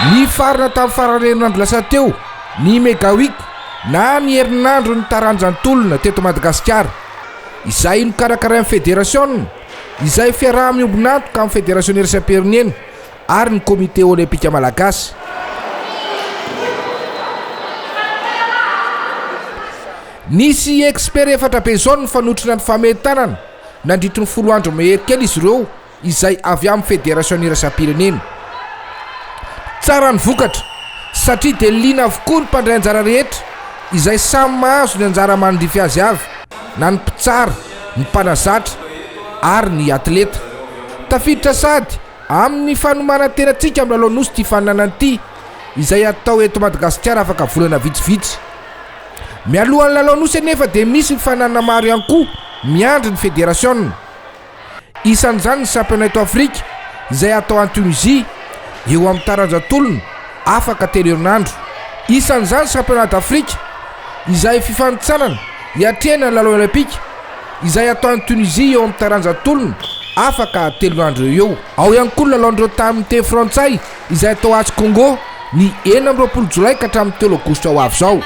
Nifarana tamin'ny faran'ny herinandro lasa teo ny Mega Week na ny herinandron'ny taranja an-tolona teto Madagasikara, izay nokarakarain'ny federasiona, izay fiaraha-miombon'antoka amin'ny federasionersaim-pirenena. ary ny Komite Olympika Malagasy. Nisy expert efatra be izao nifanotrona ny famentanana nandritry ny folo andro mehery kely izy ireo izay avy amin'ny Federasiona iraisam-pirenena. Tsara ny vokatra satria dia liana avokoa ny mpandray anjara rehetra izay samy mahazo ny anjara mandrify azy avy, na ny mpitsara, ny mpanazatra ary ny atleta. Tafiditra sady Amin'ny fanomanan-tenantsika amin'ny lalao Nosy ity faninanana ity, izay atao eto Madagasikara afaka volana vitsivitsy. Mialohan'ny lalao Nosy anefa dia misy ny faninanana maro ihany koa miandry ny federasiona. Isan'izany ny Championnat eto Afrika izay atao any Tunisie eo amin'ny taranja tolona afaka telo herinandro. Isan'izany Championnat d'Afrique izay fifanintsanana hiatrehana ny lalao Olaimpika. izay atao any Tunisie eo amin'ny taranja tolona afaka telo andro eo eo. Ao ihany koa ny lalaon'ireo taha amin'ny teny frantsay izay atao atsy Congo ny enina amby roapolo jolay ka hatramin'ny telo aogositra ho avy izao.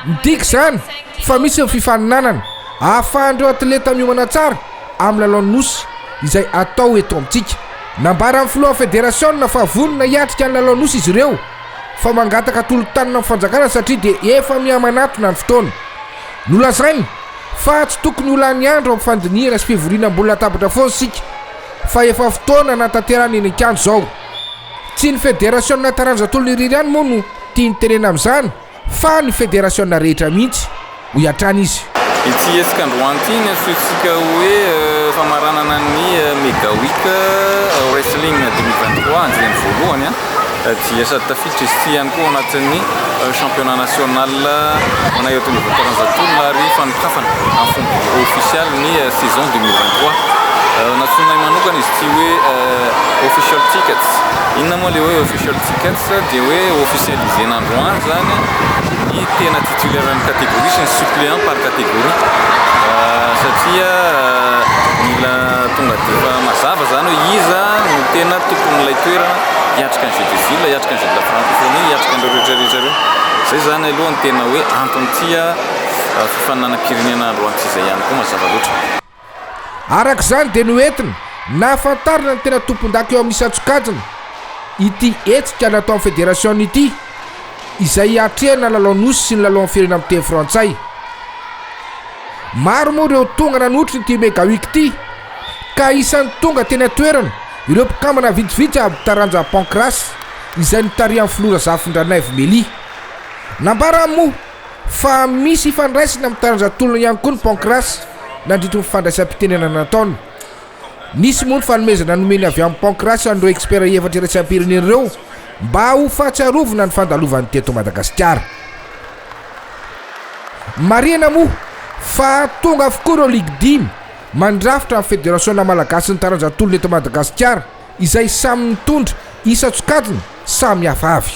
Midika izany fa misy ny fifaninanana ahafahan'ireo atleta miomana tsara amin'ny lalaon'ny Nosy izay atao eto amintsika. Nambaran'ny filohan'ny federasiona fa vonona hiatrika ny lalaon'ny Nosy izy ireo fa mangataka tolo-tanana amin'ny fanjakana satria dia efa mihamanatona ny fotoana. Nolazainy Fa tsy tokony ho lany andro amin'ny fandinihana sy fivoriana ambony latabatra foana isika fa efa fotoana hanatanterahana iny an-kianja izao. Tsy ny federasiona taranja tolona irery ihany moa no tiany tenena amin'izany fa ny federasiona rehetra mihitsy, hoy hatrany izy. Ity hetsika androany ity no antsointsika hoe famaranana ny Mega Week Wrestling deux mille vingt trois, andiany voalohany. dia sady tafiditra izy ity ihany koa ao anatin'ny championnat national manay eto Ambohikaranja Toul ary fanokafana amin'ny fomba official ny saison 2023 natsoinay manokana izy ity hoe official tickets inona moa le hoe official tickets dia hoe officialiser n'androany zany ny tena titulaire ny catégorie sy ny suppléant par catégorie satria mila tonga dia efa mazava zany hoe iza no tena tompon'ilay toerana, hiatrika ny jeux de ville, hiatrika ny jeux de la francophonie, hiatrika an'ireo rehetra rehetra ireo. Izay izany aloha ny tena hoe anton'ity fifaninanam-pirenena androany izay ihany koa mazava loatra. Araka izany dia noentina nahafantarana ny tena tompondaka eo amin'ny isan-tsokajiny ity hetsika nataon'ny federasiona ity izay hiatrehana ny lalao nosy sy ny lalaon'ny firenena amin'ny teny frantsay. Maro moa ireo tonga nanotry ity Mega Week ity. ka isan'ny tonga teny an-toerana ireo mpikambana vitsivitsy avy taranja Pancrace izay notarihan'ny filoha Razafindranaivo Melia. Nambarany moa fa misy ifandraisany amin'ny taranja tolona ihany koa ny Pancrace nandritry ny fandraisam-pitenenana nataony. Nisy moa ny fanomezana nomeny avy amin'ny Pancrace an'ireo expert efatra iraisam-pirenena ireo mba ho fahatsiarovana ny fandalovany teto Madagasikara. Marihina moa fa tonga avokoa ireo ligy dimy Mandrafitra ny Federasiona malagasin'ny taranja tolona eto Madagasikara izay samy nitondra isan-tsokajiny samy hafa avy.